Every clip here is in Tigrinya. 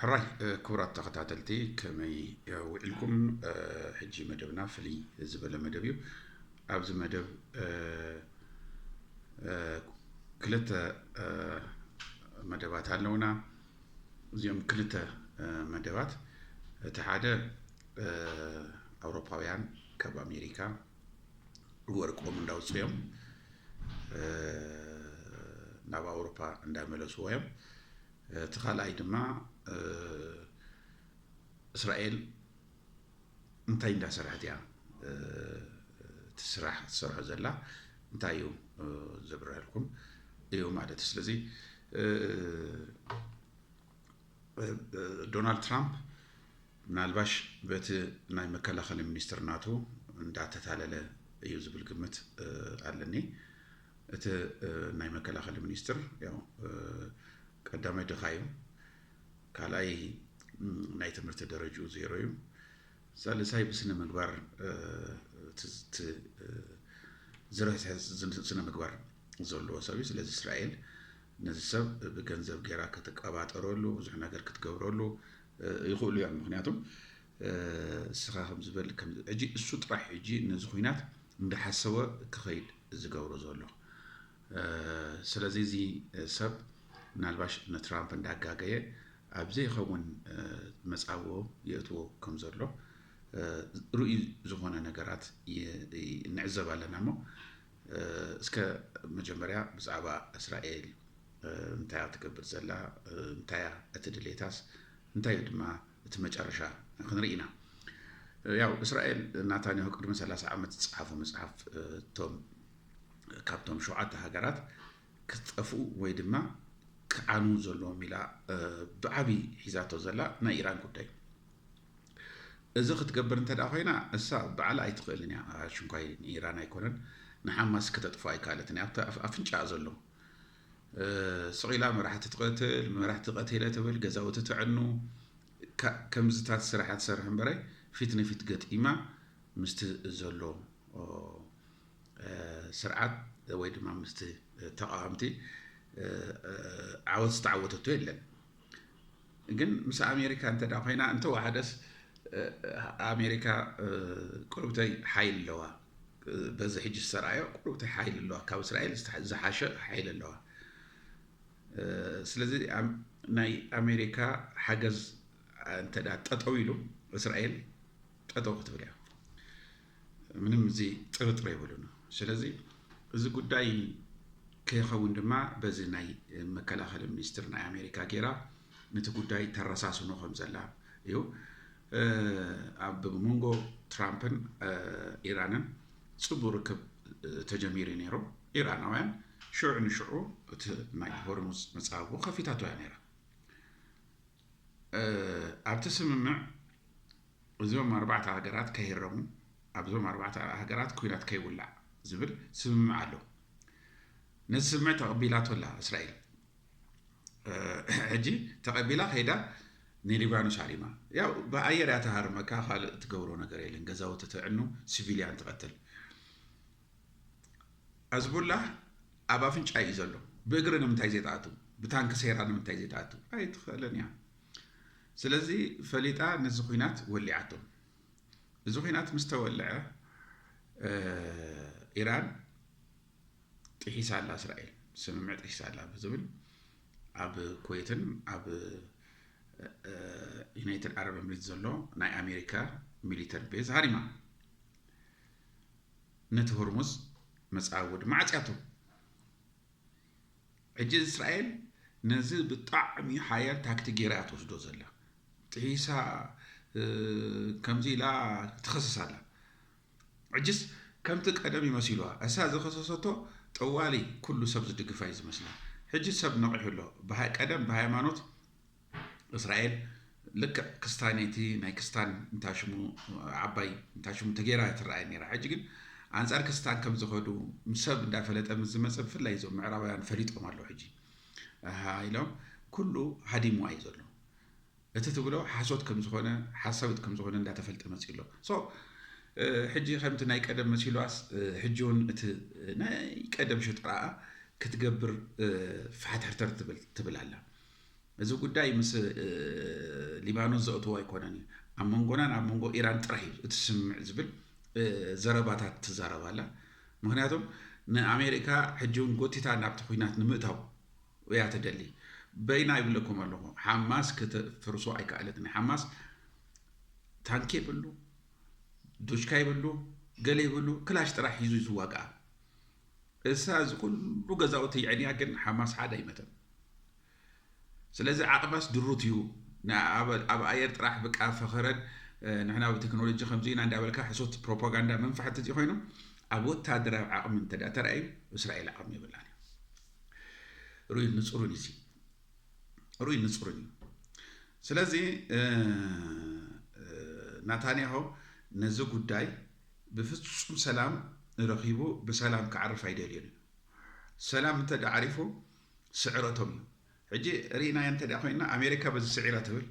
ሕራይ ክቡራት ተኸታተልቲ ከመይ ውዒልኩም ሕጂ መደብና ፍልይ ዝበለ መደብ እዩ ኣብዚ መደብ ክልተ መደባት ኣለውና እዚኦም ክልተ መደባት እቲ ሓደ ኣውሮፓውያን ካብ ኣሜሪካ ወርቆም እንዳውፅኦም ናብ ኣውሮፓ እንዳመለስዎ እዮም እቲ ካልኣይ ድማ እስራኤል እንታይ እንዳሰርሐት እያ እቲ ስራሕ ትሰርሖ ዘላ እንታይ እዩ ዘብረሀልኩም እዩ ማለት እዩ ስለዚ ዶናልድ ትራምፕ ምናልባሽ በቲ ናይ መከላኸሊ ሚኒስትር ናቱ እንዳተታለለ እዩ ዝብል ግምት ኣለኒ። እቲ ናይ መከላኸሊ ሚኒስትር ያው ቀዳማይ ድኻ እዩ፣ ካልኣይ ናይ ትምህርቲ ደረጅኡ ዜሮ እዩ፣ ሳልሳይ ብስነ ምግባር ዝረስሐ ስነ ምግባር ዘለዎ ሰብ እዩ። ስለዚ እስራኤል ነዚ ሰብ ብገንዘብ ጌራ ክትቀባጠረሉ ብዙሕ ነገር ክትገብረሉ ይኽእሉ እዮም ምክንያቱ እስኻ ከምዝበል ሕጂ እሱ ጥራሕ ሕጂ ነዚ ኩናት እንዳሓሰወ ክኸይድ ዝገብሮ ዘሎ ስለዚ እዚ ሰብ ምናልባሽ ንትራምፕ እንዳጋገየ ኣብ ዘይኸውን መጻብቦ የእትዎ ከም ዘሎ ርእዩ ዝኾነ ነገራት ንዕዘብ ኣለና እሞ እስከ መጀመርያ ብዛዕባ እስራኤል እንታይ እያ ትገብር ዘላ እንታይ እያ እቲ ድሌታስ እንታይ እዩ ድማ እቲ መጨረሻ ክንርኢ ኢና ያው እስራኤል ናታንያሁ ቅድሚ 30 ዓመት ዝፀሓፉ መፅሓፍ እቶም ካብቶም ሸውዓተ ሃገራት ክጠፍኡ ወይ ድማ ክዓኑ ዘለዎም ኢላ ብዓብዪ ሒዛቶ ዘላ ናይ ኢራን ጉዳይ እዚ ክትገብር እንተድኣ ኮይና እሳ ባዕላ ኣይትኽእልን እያ ኣሽንኳይ ንኢራን ኣይኮነን ንሓማስ ክተጥፍኦ ኣይካለትን እያ ኣብቲ ኣፍንጫኣ ዘሎ ስቕ ኢላ መራሕቲ ትቐትል መራሕቲ ቀቲለ ትብል ገዛውቲ ትዕኑ ከምዝታት ስራሓት ትሰርሕ እምበረ ፊት ንፊት ገጢማ ምስቲ ዘሎ ስርዓት ወይ ድማ ምስቲ ተቃዋምቲ ዓወት ዝተዓወተቶ የለን ግን ምስ ኣሜሪካ እንተ ኮይና እንተወሓደስ ኣሜሪካ ቁርብተይ ሓይል ኣለዋ በዚ ሕጂ ዝተረኣዮ ቁርብተይ ሓይል ኣለዋ ካብ እስራኤል ዝሓሸ ሓይል ኣለዋ ስለዚ ናይ ኣሜሪካ ሓገዝ እንተ ጠጠው ኢሉ እስራኤል ጠጠው ክትብል እያ ምንም እዚ ጥርጥር የብሉን። ስለዚ እዚ ጉዳይ ከይኸውን ድማ በዚ ናይ መከላኸሊ ሚኒስትር ናይ ኣሜሪካ ጌራ ነቲ ጉዳይ ተረሳስኖ ከም ዘላ እዩ። ኣብ መንጎ ትራምፕን ኢራንን ፅቡቅ ርክብ ተጀሚሩ ነይሩ። ኢራናውያን ሽዑ ንሽዑ እቲ ናይ ሆርሙዝ መፃብቦ ከፊታቶ እያ ነይራ። ኣብቲ ስምምዕ እዞም ኣርባዕተ ሃገራት ከይህረሙ፣ ኣብዞም ኣርባዕተ ሃገራት ኩናት ከይውላዕ ዝብል ስምምዕ ኣሎ። ነዚ ስምምዕ ተቐቢላቶ ኣላ እስራኤል። ሕጂ ተቐቢላ ከይዳ ንሊባኖስ ሃሪማ ያው ብኣየር እያ ተሃርመካ ካልእ ትገብሮ ነገር የለን ገዛውቲ ተዕኑ ሲቪልያን ትቐትል ኣዝቡላ ኣብ ኣፍንጫ እዩ ዘሎ ብእግሪ ንምንታይ ዘይትኣቱ ብታንኪ ሰይራ ንምንታይ ዘይትኣቱ ኣይትኽእልን እያ ስለዚ ፈሊጣ ነዚ ኹናት ወሊዓቶ። እዚ ኹናት ምስ ተወልዐ ኢራን ጥሒሳ ኣላ እስራኤል ስምምዕ ጥሒሳ ኣላ ብዝብል ኣብ ኩዌትን ኣብ ዩናይትድ ዓረብ ኤምሬት ዘሎ ናይ ኣሜሪካ ሚሊተር ቤዝ ሃሪማ ነቲ ሆርሙዝ መፃወዲ ማዕፅያቱ ሕጂ እስራኤል ነዚ ብጣዕሚ ሓያል ታክቲክ ጌራ እያ ትወስዶ ዘላ ጥሒሳ ከምዚ ኢላ ትኸስስ ኣላ ሕጅስ ከምቲ ቀደም ይመሲሉዋ እሳ ዝኸሰሰቶ ጠዋሊ ኩሉ ሰብ ዝድግፋ እዩ ዝመስላ ሕጂ ሰብ ነቂሑ ኣሎ ቀደም ብሃይማኖት እስራኤል ልክዕ ክስታኔቲ ናይ ክስታን እንታሽሙ ዓባይ እንታሽሙ ተገይራ እያ ትረኣይ ነይራ ሕጂ ግን ኣንጻር ክስታን ከም ዝኸዱ ሰብ እንዳፈለጠ ምስ ዝመፀ ብፍላይ እዞም ምዕራባውያን ፈሊጦም ኣለዉ ሕጂ ኢሎም ኩሉ ሃዲሙ እዩ ዘሎ እቲ ትብሎ ሓሶት ከም ዝኾነ ሓሳዊት ከም ዝኾነ እንዳተፈልጠ መፅኡ ኣሎ ሶ ሕጂ ከምቲ ናይ ቀደም መሲሏስ ሕጂ እውን እቲ ናይ ቀደም ሽጥራኣ ክትገብር ፋሕትሕርተር ትብል ኣላ እዚ ጉዳይ ምስ ሊባኖስ ዘእትዎ ኣይኮነን እዩ። ኣብ መንጎናን ኣብ መንጎ ኢራን ጥራሕ እዩ እቲ ስምምዕ ዝብል ዘረባታት ትዛረብ ኣላ። ምክንያቱም ንኣሜሪካ ሕጂ እውን ጎቲታ ናብቲ ኩናት ንምእታው እያ ትደሊ። በይና ይብለኩም ኣለኹ ሓማስ ክትፍርሶ ኣይከኣለትን። ሓማስ ታንኪ የብሉ፣ ዱሽካ የብሉ፣ ገለ የብሉ፣ ክላሽ ጥራሕ ሒዙ እዩ ዝዋግኣ። እሳ እዚ ኩሉ ገዛውቲ የዕንያ ግን ሓማስ ሓደ ኣይመተን ስለዚ ዓቅባስ ድሩት እዩ ንኣ ኣብ ኣየር ጥራሕ ብቃ ፈኸረን ንሕና ብቴክኖሎጂ ከምዚ ኢና እንዳበልካ ሕሶት ፕሮፓጋንዳ ምንፋሕ እንተዚ ኮይኑ ኣብ ወታደራዊ ዓቅሚ እንተ ተራእዩ እስራኤል ዓቅሚ የብላን ሩይ ንፅሩን እዩ ሩይ ንፅሩን እዩ ስለዚ ናታንያሆ ነዚ ጉዳይ ብፍጹም ሰላም ረኺቡ ብሰላም ክዓርፍ ኣይደልዮን እዩ። ሰላም እንተ ድኣ ዓሪፉ ስዕረቶም እዩ። ሕጂ ርኢናዮ እንተ ድኣ ኮይንና ኣሜሪካ በዚ ስዒራ ትብል፣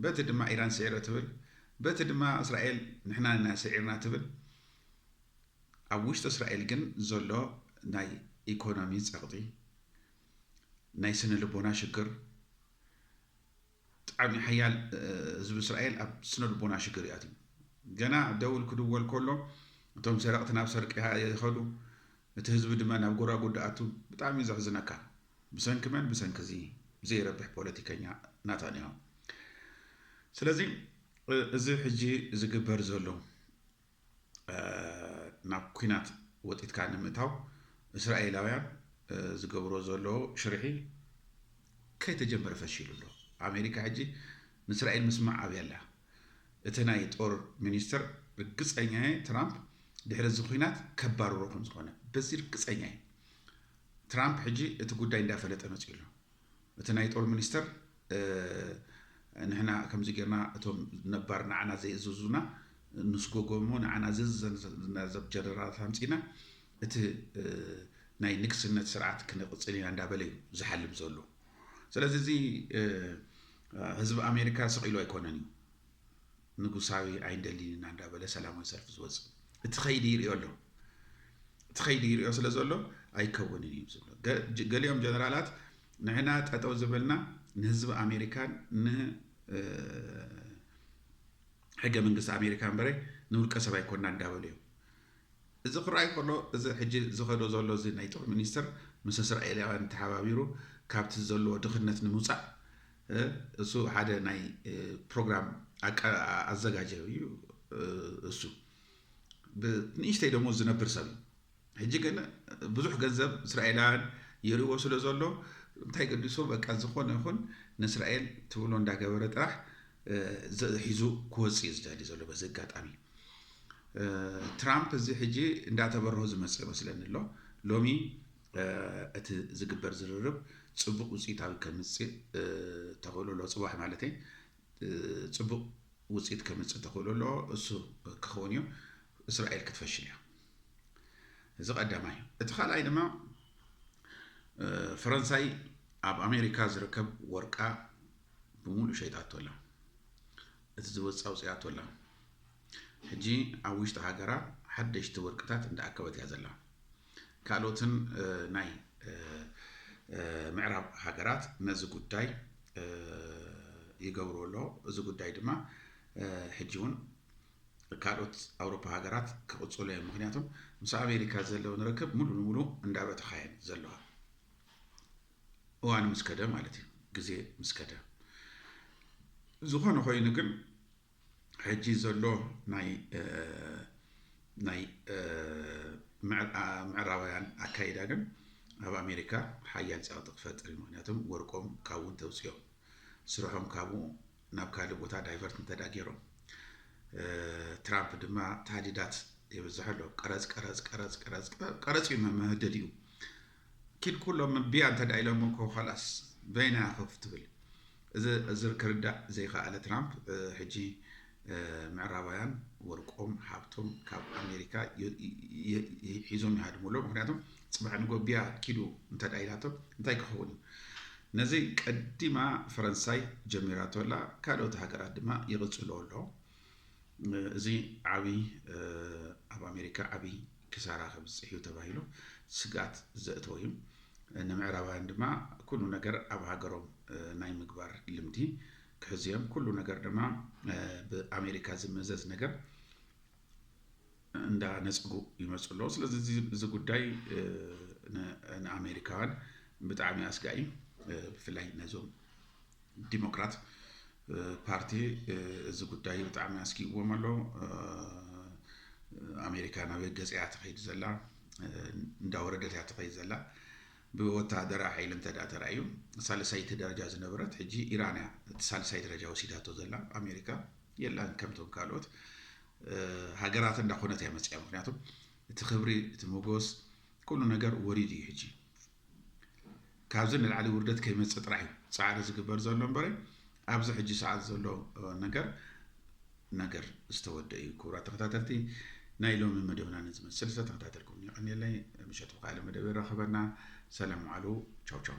በቲ ድማ ኢራን ስዒረ ትብል፣ በቲ ድማ እስራኤል ንሕና ኢና ስዒርና ትብል። ኣብ ውሽጢ እስራኤል ግን ዘሎ ናይ ኢኮኖሚ ጸቕጢ፣ ናይ ስነ ልቦና ሽግር፣ ጣዕሚ ሓያል ህዝቢ እስራኤል ኣብ ስነልቦና ሽግር ይኣትዩ ገና ደውል ክድወል ኮሎ እቶም ሰረቅቲ ናብ ሰርቂ ይከዱ እቲ ህዝቢ ድመ ናብ ጎዳጉዲ ኣቱ ብጣዕሚ እዩ ዘሕዝነካ ብሰንኪ መን ብሰንኪ እዚ ዘይረብሕ ፖለቲከኛ ናታንያሁ ስለዚ እዚ ሕጂ ዝግበር ዘሎ ናብ ኩናት ወጢትካ ንምእታው እስራኤላውያን ዝገብሮ ዘለዎ ሽርሒ ከይተጀመረ ፈሺሉ ኣሎ። ኣሜሪካ ሕጂ ንእስራኤል ምስማዕ ኣብያ ኣላ። እቲ ናይ ጦር ሚኒስተር ርግጸኛ እየ ትራምፕ ድሕሪ እዚ ኩናት ከባርሮ ከምዝኾነ በዚ ርግጸኛ እየ። ትራምፕ ሕጂ እቲ ጉዳይ እንዳፈለጠ መጺኡ ኣሎ። እቲ ናይ ጦር ሚኒስተር ንሕና ከምዚ ጌርና እቶም ነባር ንዓና ዘይእዝዙና ንስጎጎ እሞ ንዓና ዝእዝዘና ዘብ ጀነራላት ኣምጺእና እቲ ናይ ንግስነት ስርዓት ክነቕጽል ኢና እንዳበለ እዩ ዝሓልም ዘሎ ስለዚ እዚ ህዝቢ ኣሜሪካ ስቕ ኢሉ ኣይኮነን እዩ ንጉሳዊ ኣይንደሊን ኢና እንዳበለ ሰላማዊ ሰልፊ ዝወጽእ እቲ ከይዲ ይሪኦ ኣሎ እቲ ከይዲ ይሪኦ ስለ ዘሎ ኣይከውንን እዩ ዝብሎ ገሊኦም ጀነራላት ንሕና ጠጠው ዝበልና ንህዝቢ ኣሜሪካን ን ሕገ መንግስቲ ኣሜሪካ እምበረ ንውልቀ ሰብ ኣይኮና እንዳበሉ እዮም እዚ ክረኣይ ከሎ እዚ ሕጂ ዝኸዶ ዘሎ እዚ ናይ ጦር ሚኒስትር ምስ እስራኤላውያን ተሓባቢሩ ካብቲ ዘለዎ ድኽነት ንምውፃእ እሱ ሓደ ናይ ፕሮግራም ኣዘጋጀ እዩ እሱ ብንእሽተይ ደሞዝ ዝነብር ሰብ እዩ ሕጂ ግን ብዙሕ ገንዘብ እስራኤላውያን የርእዎ ስለ ዘሎ እንታይ ገዲሶ በቃ ዝኾነ ይኹን ንእስራኤል ትብሎ እንዳገበረ ጥራሕ ሒዙ ክወፅእ እዩ ዝደሊ ዘሎ በዚ ኣጋጣሚ ትራምፕ እዚ ሕጂ እንዳተበረሆ ዝመፅእ መስለኒ ኣሎ ሎሚ እቲ ዝግበር ዝርርብ ፅቡቕ ውፅኢት ኣብ ከምፅእ ተኽእሎ ኣሎ ፅባሕ ማለት ፅቡቕ ውፅኢት ከምፅእ ተኽእሎ ኣሎ እሱ ክኸውን እዩ እስራኤል ክትፈሽል እያ እዚ ቀዳማይ እቲ ካልኣይ ድማ ፈረንሳይ ኣብ ኣሜሪካ ዝርከብ ወርቃ ብምሉእ ሸይጣቶ ኣላ እቲ ዝወፃ ውፅያቶ ኣላ ሕጂ ኣብ ውሽጢ ሃገራ ሓደሽቲ ወርቅታት እንዳኣከበት እያ ዘላ ካልኦትን ናይ ምዕራብ ሃገራት ነዚ ጉዳይ ይገብርዎ ኣለዎ። እዚ ጉዳይ ድማ ሕጂ እውን ካልኦት ኣውሮፓ ሃገራት ክቕፅሉ እዮም። ምክንያቱም ምስ ኣሜሪካ ዘለውን ርክብ ሙሉ ንሙሉ እንዳበተኻ እየን ዘለዋ እዋን ምስ ከደ ማለት እዩ ግዜ ምስ ከደ ዝኾነ ኮይኑ ግን ሕጂ ዘሎ ናይ ናይ ምዕራባውያን ኣካይዳ ግን ኣብ ኣሜሪካ ሓያል ጸቕጢ ክፈጥር እዩ ምክንያቱም ወርቆም ካብኡ እንተውፅኦም ስርሖም ካብኡ ናብ ካልእ ቦታ ዳይቨርት እንተዳ ገይሮም ትራምፕ ድማ ታህዲዳት የብዝሐ ኣሎ ቀረፅ ቀረፅ ቀረፅ ቀረፅ ቀረፅ እዩ መመህደዲኡ ኪድ ኩሎም እምቢያ እንተ ኢሎሞ እኮ ኻላስ በይና ኢያ ኮፍ ትብል እዝር ክርዳእ ዘይኻኣለ ትራምፕ ሕጂ ምዕራባውያን ወርቆም ሃብቶም ካብ ኣሜሪካ ሒዞም ይሃድሙ ኣሎ ምክንያቱ ጽባሕ ንጎ ቢያ ኪዱ እንተ ኢላቶ እንታይ ክኸውን እዩ ነዚ ቀዲማ ፈረንሳይ ጀሚራቶ ኣላ ካልኦት ሃገራት ድማ ይቕጽልኦ ኣሎ እዚ ዓቢ ኣብ ኣሜሪካ ዓቢ ክሳራ ከብጽሕ እዩ ተባሂሉ ስግኣት ዘእተወ እዩ። ንምዕራባውያን ድማ ኩሉ ነገር ኣብ ሃገሮም ናይ ምግባር ልምዲ ክሕዙ እዮም። ኩሉ ነገር ድማ ብኣሜሪካ ዝመዘዝ ነገር እንዳነጽጉ ይመፁ ኣለዉ። ስለዚ እዚ ጉዳይ ንኣሜሪካውያን ብጣዕሚ ኣስጋኢ ብፍላይ ነዞም ዲሞክራት ፓርቲ እዚ ጉዳይ ብጣዕሚ ኣስጊእዎም ኣሎ። ኣሜሪካ ናበይ ገፅ እያ ትኸይድ ዘላ እንዳወረደት እያ ትኸይድ ዘላ ብወታሃደራ ሓይሊ እንተ ተራእዩ ሳልሳይቲ ደረጃ ዝነበረት ሕጂ ኢራን እያ እቲ ሳልሳይ ደረጃ ወሲዳቶ ዘላ ኣሜሪካ የላን ከምቶም ካልኦት ሃገራት እንዳኾነት እያ መፅያ ምክንያቱ እቲ ክብሪ እቲ መጎስ ኩሉ ነገር ወሪድ እዩ ሕጂ ካብዚ ንላዕሊ ውርደት ከይመፅእ ጥራሕ እዩ ፃዕሪ ዝግበር ዘሎ እምበረ ኣብዚ ሕጂ ሰዓት ዘሎ ነገር ነገር ዝተወደ እዩ ክቡራት ተኸታተልቲ ናይ ሎሚ መደብና ንዝመስል ዝተተኸታተልኩም የቐኒየለይ ምሸት ብካልእ መደብ ይራኸበና ሰላም ዋዕሉ ቻው ቻው